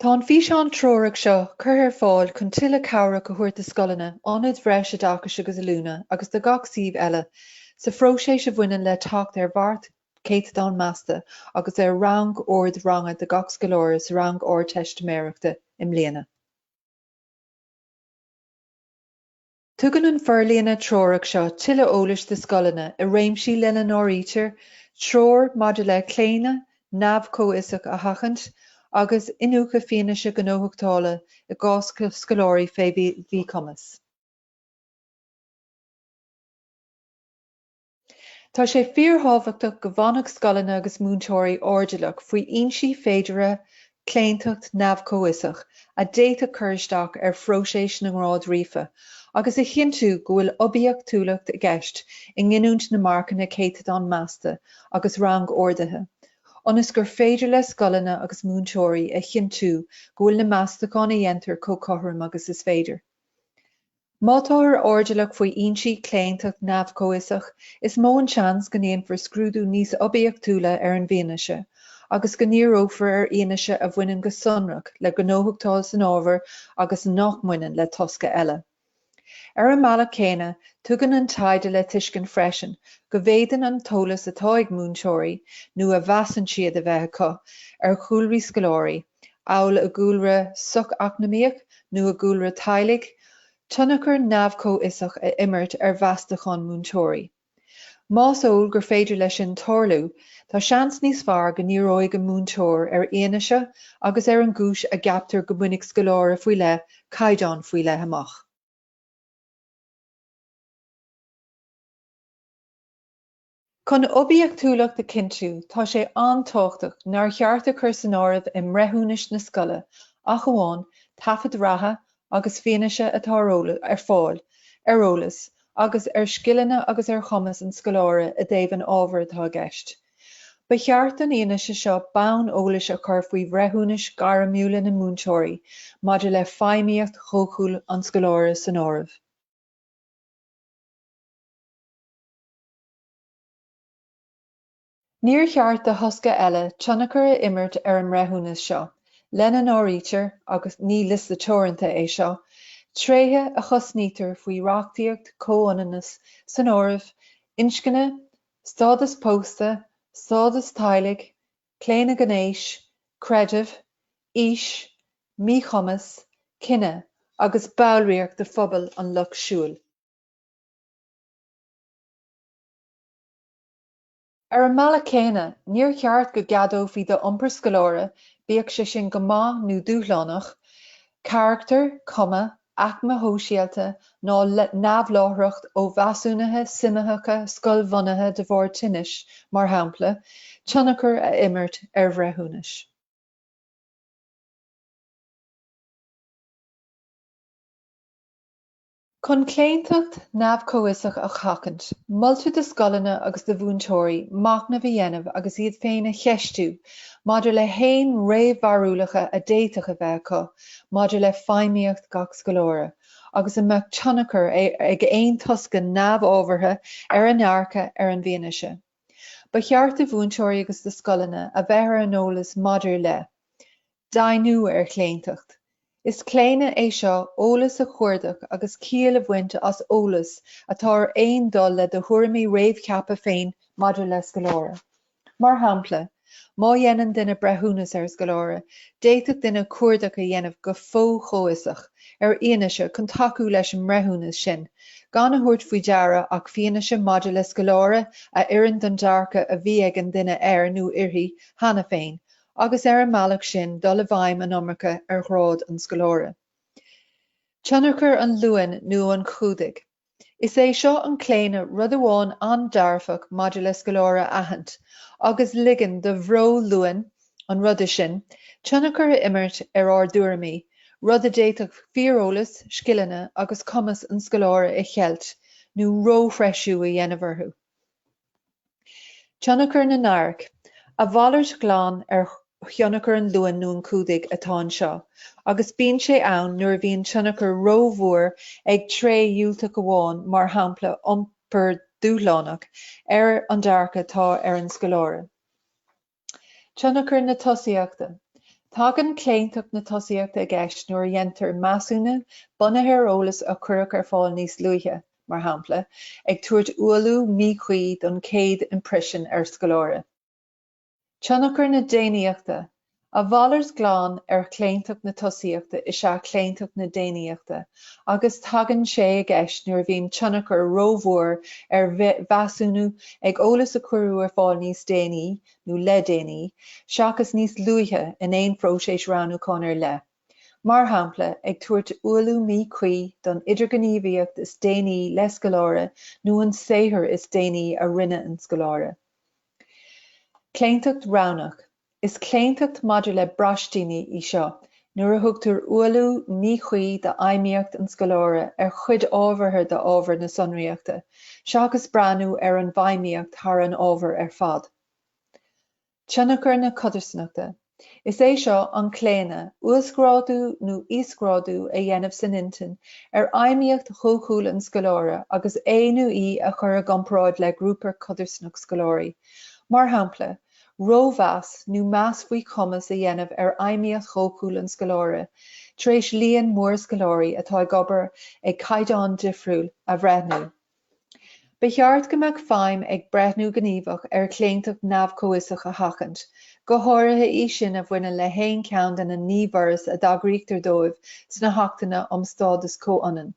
Tá an físeán treorach seo curtha ar fáil chun tuilleadh cabhrach a thabhairt do scoileanna, Ionaid Bhreis Oideachais agus Oiliúna agus do gach suíomh eile sa phróiseas a bhaineann le teacht ar mharc céatadán measta agus ar rang-ord ranga do gach scoláire sa rang Ardteistiméireachta i mbliana. Tugann an forlíonadh treorach seo tuilleadh eolais do scoileanna i réimsí lena n-áirítear treoir maidir le claonadh neamh-chomhfhiosach a sheachaint agus iniúchadh fianaise gnóthachtála i gcás scoláirí faoi mhíchumas. Tá sé fíorthábhachtach go bhfanfadh scoileanna agus múinteoirí airdeallach faoi fhoinsí féideartha claontacht neamh-chomhfhiosach a d'fhéadfadh cur isteach ar phróiseas na ngrád ríofa agus a chinntiú go bhfuil oibiachtúlacht i gceist i nginiúint na marcanna céatadán measta agus rang-orduithe ionas gur féidir le scoileanna agus múinteoirí a chinntiú go bhfuil na meastacháin a dhéantar chomh cothrom agus is féidir. Má táthar airdeallach faoi fhoinsí claontacht neamh-chomhfhiosach, is mó an seans go ndéanfar scrúdú níos oibiachtúla ar an bhfianaise agus go ndíreofar ar fhianaise a bhaineann go sonrach le gnóthachtáil san ábhar agus nach mbaineann le tosca eile. Ar an mbealach céanna, tugann an taighde le tuiscint freisin go bhféadann an t-eolas atá ag múinteoirí, nó a mheasann siad a bheith acu, ar chúlraí scoláirí, amhail a gcúlra soch-eacnamaíoch nó a gcúlra teaghlaigh, tionchar neamh-chomhfhiosach a imirt ar mheastacháin múinteoirí. Más eol gur féidir leis sin tarlú, tá seans níos fearr go ndíreoidh an múinteoir ar fhianaise agus ar an gcúis a gceaptar go mbainfidh scoláire faoi leith caighdeán faoi leith amach. Chun oibiachtúlacht a chinntiú, tá sé an-tábhachtach nár cheart a chur san áireamh i mbreithiúnais na scoile ach amháin taifid reatha agus fianaise atá ar fáil ar eolas agus ar scileanna agus ar chumas an scoláire i dtaobh an ábhair atá i gceist. Ba cheart don fhianaise seo bonn eolais a chur faoi bhreithiúnais ghairmiúla na múinteoirí maidir le feidhmíocht dhóchúil an scoláire san áireamh. Níor cheart do thosca eile tionchar a imirt ar an mbreithiúnas seo, lena n-áirítear, agus ní liosta teoranta é seo, tréithe a chosnaítear faoi reachtaíocht comhionannais san áireamh, inscne, stádas pósta, stádas teaghlaigh, claonadh gnéis, creideamh, aois, míchumas, cine agus ballraíocht de phobal an Lucht Siúil. Ar an mbealach céanna, níor cheart go gceadófaí do iompar scoláire, bíodh sé sin go maith nó dúshlánach, carachtar, cuma, aicme shóisialta ná neamhláithreacht ó mheasúnuithe suimitheacha scoilbhunaithe de bharr tinnis, mar shampla, tionchar a imirt ar bhreithiúnais. Chun claontacht neamh-chomhfhiosach a sheachaint, moltar do scoileanna agus do mhúinteoirí machnamh a dhéanamh agus iad féin a cheistiú maidir le haon réamhbharúlacha a d'fhéadfadh a bheith acu maidir le feidhmíocht gach scoláire agus an mbeadh tionchar ag aon tosca neamhábhartha ar a ndearcadh ar an bhfianaise. Ba cheart do mhúinteoirí agus do scoileanna a bheith ar an eolas maidir le, deimhniú ar chlaontacht. Is claonadh é seo eolas a chuardach agus ciall a bhaint as eolas atá ar aon dul le do thuairimí réamhcheaptha féin maidir le scoláire. Mar shampla, má dhéanann duine breithiúnas ar scoláire, d'fhéadfadh duine cuardach a dhéanamh go fo-chomhfhiosach ar fhianaise chun tacú leis an mbreithiúnas sin, gan a thabhairt faoi deara ach fianaise maidir le scoláire a oireann don dearcadh a bhí ag an duine air nó uirthi cheana féin, agus ar an mbealach sin dul i bhfeidhm an iomarca ar ghrád an scoláire. Tionchar an luain nó an chumhdaigh. Is é seo an claonadh rud amháin an-dearfach maidir le scoláire a aithint, agus ligean do bhreo luain an ruda sin tionchar a imirt ar ár dtuairimí, rud a d'fhéadfadh fíoreolas, scileanna agus cumas an scoláire a cheilt nó róthreisiú a dhéanamh orthu. Tionchar na n-adharc. A mhalairt ghlan ar thionchar an luain nó an chumhdaigh atá anseo, agus bíonn sé ann nuair a bhíonn tionchar rómhór ag tréith dhiúltach amháin, mar shampla, iompar dúshlánach, ar an dearcadh atá ar an scoláire. Tionchar na tosaíochta. Tagann claontacht na tosaíochta i gceist nuair a dhéantar measúnú bunaithe ar eolas a cuireadh ar fáil níos luaithe, mar shampla, ag tabhairt ualú míchuí don chéad imprisean ar scoláire. Tionchar na déanaíochta. A mhalairt ghlan ar chlaontacht na tosaíochta is ea claontacht na déanaíochta, agus tagann sé i gceist nuair a bhíonn tionchar ró-mhór ar mheasúnú ag eolas a cuireadh ar fáil níos déanaí nó le déanaí seachas níos luaithe in aon phróiseas roghnúcháin ar leith, mar shampla, ag tabhairt ualú míchuí don idirghníomhaíocht is déanaí le scoláire nó an saothar is déanaí a rinne an scoláire. Claontacht roghnach. Is claontacht maidir le braistini í seo nuair a thugtar ualú míchuí d'fheidhmíocht an scoláire ar chuid ábhartha d'ábhar na sonraíochta seachas breathnú ar an bhfeidhmíocht thar an ábhar ar fad. Tionchar na codarsnachta. Is é seo an claonadh, uasghrádú nó íosghrádú a dhéanamh san intinn ar fheidhmíocht dhóchúil an scoláire agus é nó í a chur i gcomparáid le grúpa codarsnach scoláirí, mar shampla, Rómheas nó meas faoi chumas a dhéanamh ar fheidhmíocht dhóchúil an scoláire tar éis líon mór scoláirí atá ag obair ag caighdeán difriúil a bhreithniú. Ba cheart go mbeadh feidhm ag breithniú gníomhach ar chlaontacht neamh-chomhfhiosach a sheachaint, go háirithe í sin a bhaineann le haon cheann de na naoi bhforas a dtagraítear dóibh sna hAchtanna um Stádas Comhionann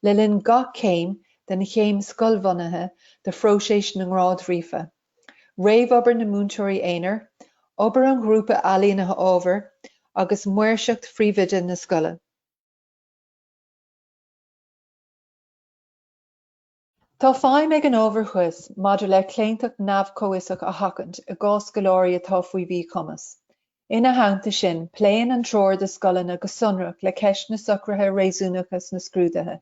le linn gach céim den chéim scoilbhunaithe de phróiseas na ngrád ríofa. réamhobair na múinteoirí aonair, obair an ghrúpa ailínithe ábhair, agus maoirseacht phríomhoide na scoile. Tá feidhm ag an ábhar thuas maidir le claontacht neamh-chomhfhiosach a sheachaint i gcás scoláirí atá faoi mhíchumas. Ina theannta sin, pléann an treoir do scoileanna go sonrach le ceist na socruithe réasúnacha sna scrúduithe.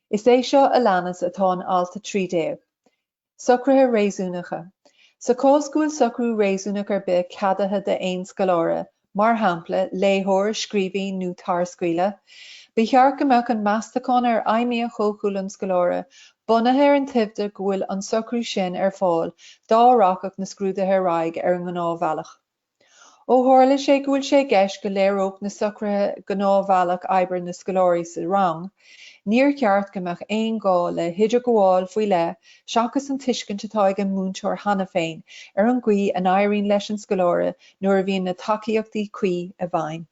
Is é seo a leanas atá in Alt 13. Socruithe Réasúnacha. Sa chás go bhfuil socrú réasúnach ar bith ceadaithe d'aon scoláire, mar shampla, léitheoir, scríobhaí nó tarscaoileadh, ba cheart go mbeadh an meastachán ar fheidhmíocht dhóchúil an scoláire bunaithe ar an toimhde go bhfuil an socrú sin ar fáil dá rachadh na scrúduithe ar aghaidh ar an ngnáthbhealach. Ó tharla sé go bhfuil sé i gceist go léireodh na socruithe gnáthbhealach oibre na scoláirí sa rang, níor cheart go mbeadh aon ghá le hidirghabháil faoi leith seachas an tuiscint atá ag an múinteoir cheana féin ar an gcaoi a n-éiríonn leis an scoláire nuair a bhíonn na tacaíochtaí cuí i bhfeidhm.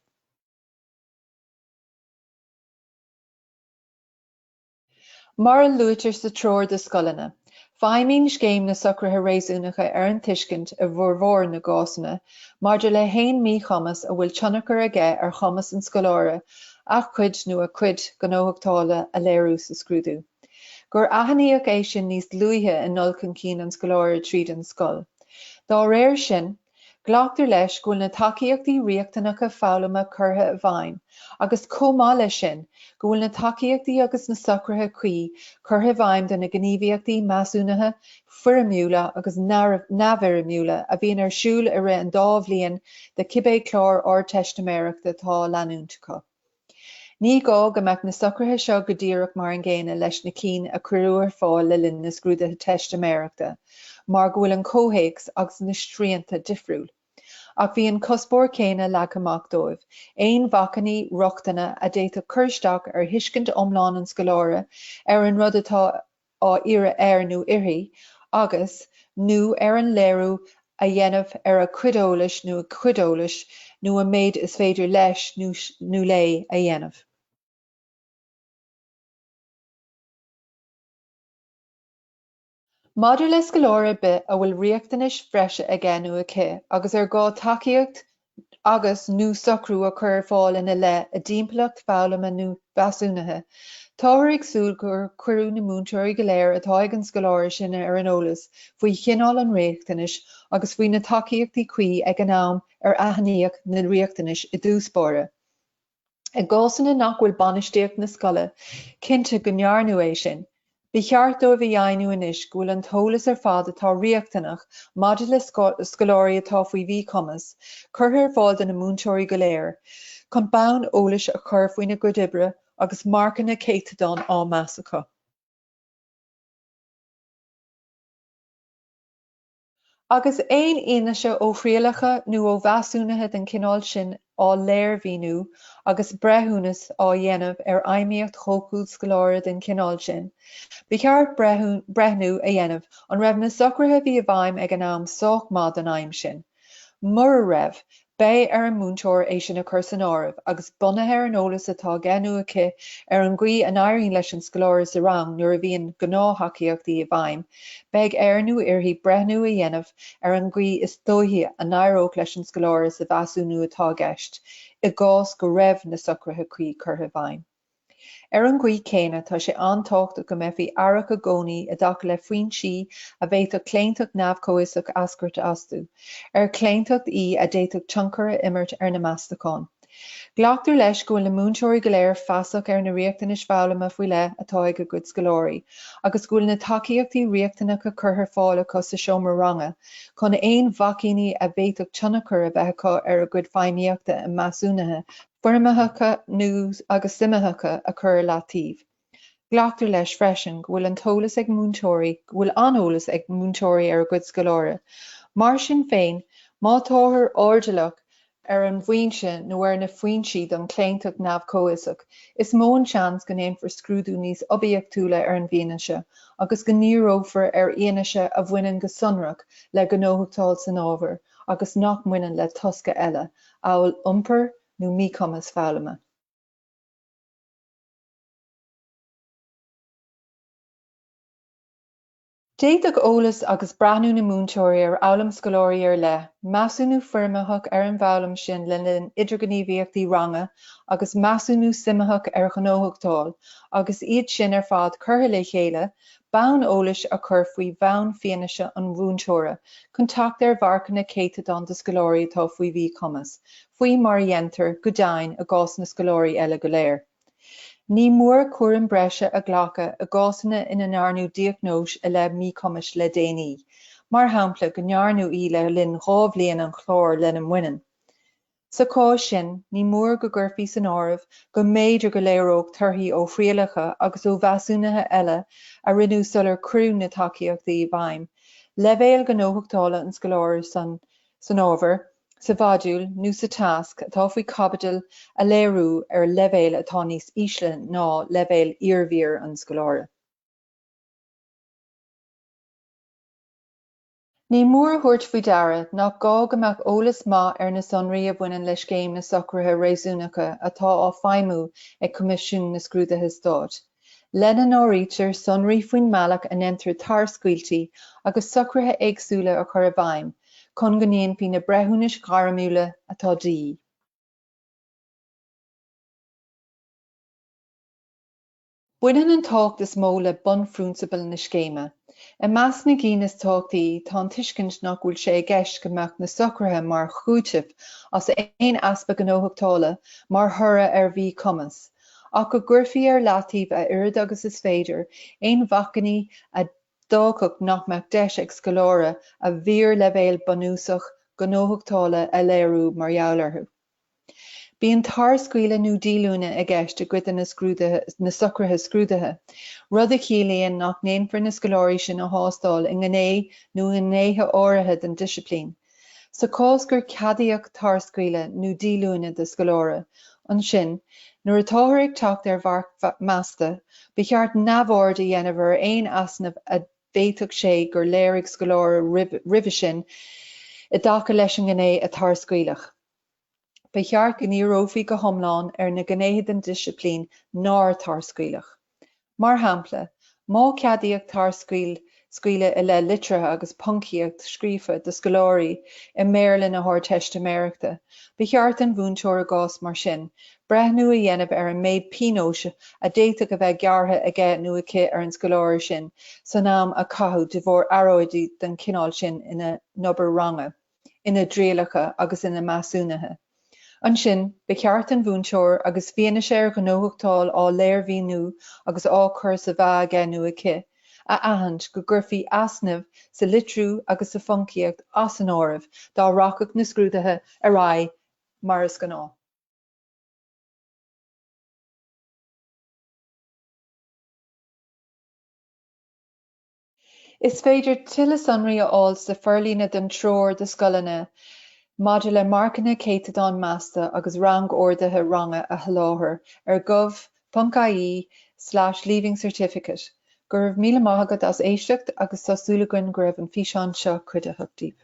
Mar a luaitear sa Treoir do Scoileanna, feidhmíonn Scéim na Socruithe Réasúnacha ar an tuiscint, i bhformhór na gcásanna, maidir le haon míchumas a bhfuil tionchar aige ar chumas an scoláire a chuid nó a cuid gnóthachtála a léiriú sa scrúdú, gur aithníodh é sin níos luaithe i ndul chun cinn an scoláire tríd an scoil. Dá réir sin, Glactar leis go bhfuil na tacaíochtaí riachtanacha foghlama curtha i bhfeidhm agus chomh maith leis sin go bhfuil na tacaíochtaí agus na socruithe cuí curtha i bhfeidhm do na gníomhaíochtaí measúnaithe foirmiúla agus neamhfhoirmiúla a bhíonn ar siúl i rith an dá bhliain de cibé clár Ardteistiméireachta atá á leanúint acu. Ní gá go mbeadh na socruithe seo go díreach mar an gcéanna leis na cinn a cuireadh ar fáil le linn na Scrúduithe Teistiméireachta mar go bhfuil an comhthéacs agus na srianta difriúil. Ach bhí an cuspóir céanna leagtha amach dóibh, aon bhacainní rochtana a d'fhéadfadh cur isteach ar thuiscint iomlán an scoláire ar an rud atá á iarraidh air nó uirthi, agus, nó ar an léiriú a dhéanamh ar a chuid eolais nó a cuid eolais nó an méid is féidir leis nó léi a dhéanamh. Maidir le scoláire ar bith a bhfuil riachtanais bhreise aige nó aici agus ar gá tacaíocht agus, nó socrú a chur ar fáil ina leith i dtimpeallacht foghlama nó mheasúnaithe. Táthar ag súil gur cuireadh na múinteoirí go léir atá ag an scoláire sin ar an eolas faoi chineál an riachtanais agus faoi na tacaíochtaí cuí ag an am ar aithníodh na riachtanais i dtús báire. I gcásanna nach bhfuil bainistíocht na scoile cinnte go ndearnadh é sin, ba cheart dóibh a dheimhniú anois go bhfuil an t-eolas ar fad atá riachtanach maidir le scoláirí atá faoi mhíchumas curtha ar fáil do na múinteoirí go léir chun bonn eolais a chur faoina gcuid oibre agus marcanna céatadáin á meas acu. Agus aon fhianaise ó thrialacha nó ó mheasúnuithe den chineál sin á léirmhíniú agus breithiúnas á dhéanamh ar fheidhmíocht dhóchúil scoláire den chineál sin, ba cheart breithniú a dhéanamh an raibh na socruithe a bhí i bhfeidhm ag an am sách maith don aidhm sin. Mura raibh, Beidh ar an múinteoir é sin a chur san áireamh agus, bunaithe ar an eolas atá aige nó aici ar an gcaoi a n-éiríonn leis an scoláire sa rang nuair a bhíonn gnáth-thacaíochtaí i bhfeidhm, beidh air nó uirthi breithniú a dhéanamh ar an gcaoi is dóichí a n-éireodh leis an scoláire sa mheasúnú atá i gceist, i gcás go raibh na socruithe cuí curtha i bhfeidhm. Ar an gcaoi céanna tá sé an-tábhachtach go mbeifí aireach i gcónaí i dtaca le foinsí a bhféadfadh claontacht neamh-chomhfhiosach eascairt astu, ar claontacht í a d'fhéadfadh tionchar a imirt ar na Meastacháin. Glactar leis go bhfuil na múinteoirí go léir feasach ar na riachtanais foghlama faoi leith atá ag a gcuid scoláirí agus go bhfuil na tacaíochtaí riachtanacha curtha ar fáil acu sa seomra ranga chun aon bhacainní a bhféadfadh tionchar a bheith acu ar a gcuid feidhmíochta i measúnuithe foirmitheacha nó agus suimitheacha a chur i leataobh. Glactar leis freisin go bhfuil an t-eolas ag múinteoirí go bhfuil an-eolas ag múinteoirí ar a gcuid scoláire. Mar sin féin, má táthar airdeallach ar an bhfoinse nó ar na foinsí don chlaontacht neamh-chomhfhiosach, is mó an seans go ndéanfar scrúdú níos oibiachtúla ar an bhfianaise agus go ndíreofar ar fhianaise a bhaineann go sonrach le gnóthachtáil san ábhar, agus nach mbaineann le tosca eile amhail iompar nó míchumas foghlama. D'fhéadfadh eolas agus breathnú na múinteoirí ar fhoghlaim scoláirí ar leith, measúnú foirmitheach ar an bhfoghlaim sin le linn idirghníomhaíochtaí ranga agus measúnú suimitheach ar ghnóthachtáil agus iad sin ar fad curtha le chéile bonn eolais a chur faoi bhonn fianaise an mhúinteora chun teacht ar mharcanna céatadáin do scoláirí atá faoi mhíchumas, faoi mar a dhéantar, go deimhin, i gcás na scoláirí eile go léir. Ní mór cúram breise a ghlacadh i gcásanna ina ndearnadh diagnóis i leith míchumais le déanaí, mar shampla, go ndearnadh í le linn dhá bhliain an chláir lena mbaineann. Sa chás sin, ní mór go gcuirfí san áireamh go mb'fhéidir go léireodh torthaí ó thrialacha agus ó mheasúnuithe eile a rinneadh sular cuireadh na tacaíochtaí i bhfeidhm, leibhéal gnóthachtála an scoláire san san ábhar, sa mhodúl nó sa tasc atá faoi chaibidil a léiriú ar leibhéal atá níos ísle ná leibhéal iarbhír an scoláire. Ní mór a thabhairt faoi deara nach gá go mbeadh eolas maith ar na sonraí a bhaineann le Scéim na Socruithe Réasúnacha atá á feidhmiú ag Coimisiún na Scrúduithe Stáit, lena n-áirítear sonraí faoin mbealach a ndéantar tarscaoiltí agus socruithe éagsúla a chur i bhfeidhm chun go ndéanfaí na breithiúnais ghairmiúla atá de dhíth. Baineann an tábhacht is mó le bunphrionsabail na scéime. I measc na gcinn is tábhachtaí tá an tuiscint nach bhfuil sé i gceist go mbeadh na socruithe mar chúiteamh as aon easpa gnóthachtála mar thoradh ar mhíchumas ach go gcuirfí ar leataobh a oiread agus is féidir aon bhacainní a d'fhágfadh nach mbeadh deis ag scoláire a bhfíorleibhéal bunúsach gnóthachtála a léiriú mar gheall orthu. Bíonn tarscaoileadh nó díolúine i gceist i gcuid de na scrúduithe, na socruithe scrúduithe, rud a chiallaíonn nach ndéanfar na scoláirí sin a thástáil i ngné nó i ngnéithe áirithe den disciplín. Sa chás gur ceadaíodh tarscaoileadh nó díolúine do scoláire, ansin, nuair atáthar ag teacht ar mharc measta, ba cheart neamhaird a dhéanamh ar aon easnamh a bhféadfadh sé gur léirigh scoláire roimhe sin i dtaca leis an ngné a tarscaoileadh. Ba cheart go ndíreofaí go hiomlán ar na gnéithe den disciplín nár tarscaoileadh. Mar shampla, má ceadaíodh tarscaoileadh i leith litrithe agus poncaíocht scríofa do scoláirí i mBéarla na hArdteistiméireachta, ba cheart don mhúinteoir i gcás mar sin breithniú a dhéanamh ar an méid pionóis a d'fhéadfadh a bheith gearrtha aige nó aici ar an scoláire sin san am a caitheadh de bharr earráidí den chineál sin ina n-obair ranga, ina dtrialacha agus ina measúnuithe. Ansin, ba cheart don mhúinteoir, agus fianaise ar ghnóthachtáil á léirmhíniú agus á cur sa mheá aige nó aici, a aithint go gcuirfí easnamh sa litriú agus sa phoncaíocht as an áireamh dá rachadh na scrúduithe ar aghaidh mar is gnáth. Is féidir tuilleadh sonraí a fháil sa forlíonadh don Treoir do Scoileanna maidir le Marcanna Céatadáin Measta agus Rang-Orduithe Ranga a sholáthar ar gov.ie/leaving certificate Go raibh míle maith agat as éisteacht agus tá súil againn go raibh an físeán seo cuidiúcháin daoibh.